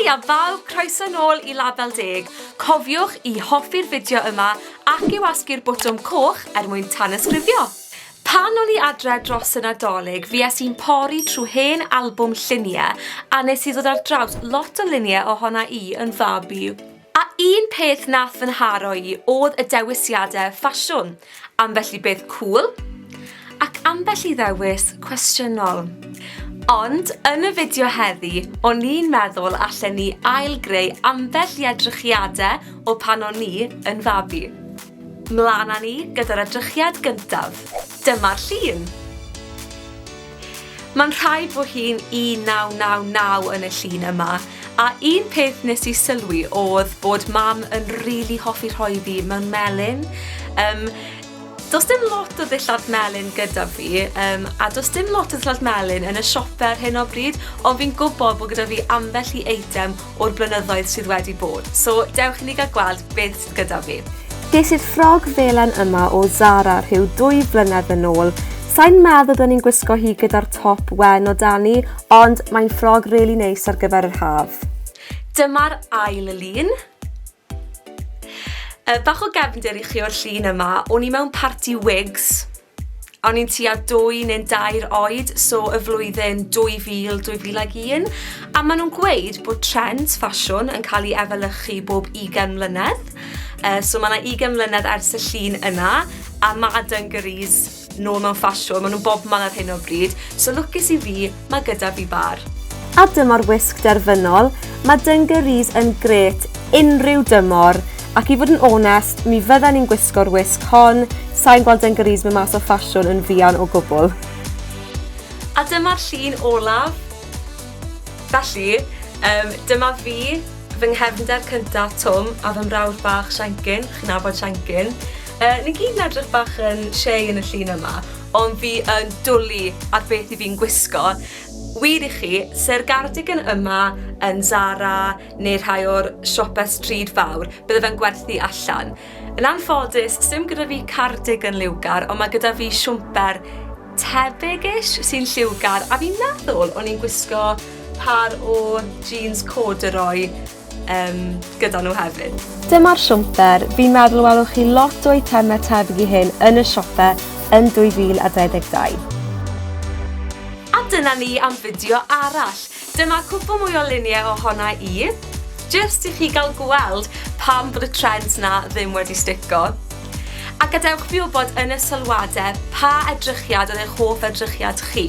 Hi a bawb, croeso nôl i Label Deg. Cofiwch i hoffi'r fideo yma ac i wasgu'r botwm coch er mwyn tanysgrifio. Pan o'n i adre dros y Nadolig fues i'n pori trwy hen albwm llunie a nes i ddod ar draws lot o lunie ohona i yn fab i. A un peth nath fy nharo i odd y dewisiade ffasiwn, ambell i beth cŵl, ac ambell i ddewis cwestiynol. Ond yn y fideo heddi, o'n i'n meddwl allen ni ail-greu ambell i edrychiade o pan o'n ni yn fabi. Mlan â ni gyda'r edrychiad gyntaf. Dyma'r llun. Mae'n rhaid fo hi'n 1999 yn y llun yma, a un peth nes i sylwi oedd bod mam yn rili hoffi rhoi fi mewn melyn. Um, Does dim lot o ddillad melyn gyda fi, um, a does dim lot o ddillad melyn yn y siope ar hyn o bryd, ond fi'n gwybod bod gyda fi ambell i eitem o'r blynyddoedd sydd wedi bod, so dewch i ni gael gweld beth sydd gyda fi. Ges i'r ffrog felen yma o Zara rhyw dwy flynedd yn ôl. Sain meddwl byddwn i'n gwisgo hi gyda'r top wen o dani, ond mae'n ffrog really neis ar gyfer yr haf. Dyma'r ail lun. Yy bach o gefndir i chi o'r llun yma, o'n i mewn parti wigs a o'n i'n tua dwy neu'n dair oed so y flwyddyn 2000, 2001 a maen nhw'n gweud bod trends ffasiwn yn cael ei efelychu bob 20 mlynedd. Yy so ma' 'na 20 mlynedd ers y llun yna a ma' dungarees nôl mewn ffasiwn, maen nhw bobman ar hyn o bryd, so lwcus i fi, mae gyda fi bar. A dyma'r wisg derfynol, mae dungarees yn gret unrhyw dymor, ac i fod yn onest, mi fydden i'n gwisgo'r wisg hon, sain gweld dungarees mynd mas o ffasiwn yn fuan o gwbl. A dyma'r llun olaf. Felly, um, dyma fi, fy nghefnder cyntaf Twm a fy mrawd bach Siencyn, chi'n nabod Siencyn, Yy, ni gyd yn edrych bach yn shei yn y llun yma, ond fi yn dwli ar beth i fi'n gwisgo. Wir i chi, se'r gardigan yma yn Zara neu rhai o'r siope stryd fawr, bydde fe'n gwerthu allan. Yn anffodus, sim gyda fi cardigan liwgar, ond mae gyda fi siwmper tebyg-ish sy'n lliwgar, a fi'n meddwl o'n i'n gwisgo par o jeans corduroy yym gyda nhw hefyd. Dyma'r siwmper, fi'n meddwl y welwch chi lot o eitemau tebyg i hyn yn y siope yn 2022. A dyna ni am fideo arall. Dyma cwpl mwy o luniau ohona i, jyst i chi gael gweld pam bod y trends 'na ddim wedi stico. A gadewch fi wybod yn y sylwadau pa edrychiad oedd eich hoff edrychiad chi.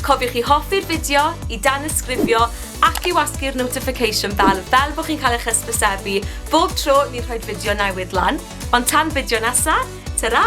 Cofiwch i hoffi'r fideo, i danysgrifio ac i wasgu'r notification bell fel bod chi'n cael eich hysbysebu bob tro ni'n rhoi'r fideo newydd lan. Ond tan fideo nesa, tara!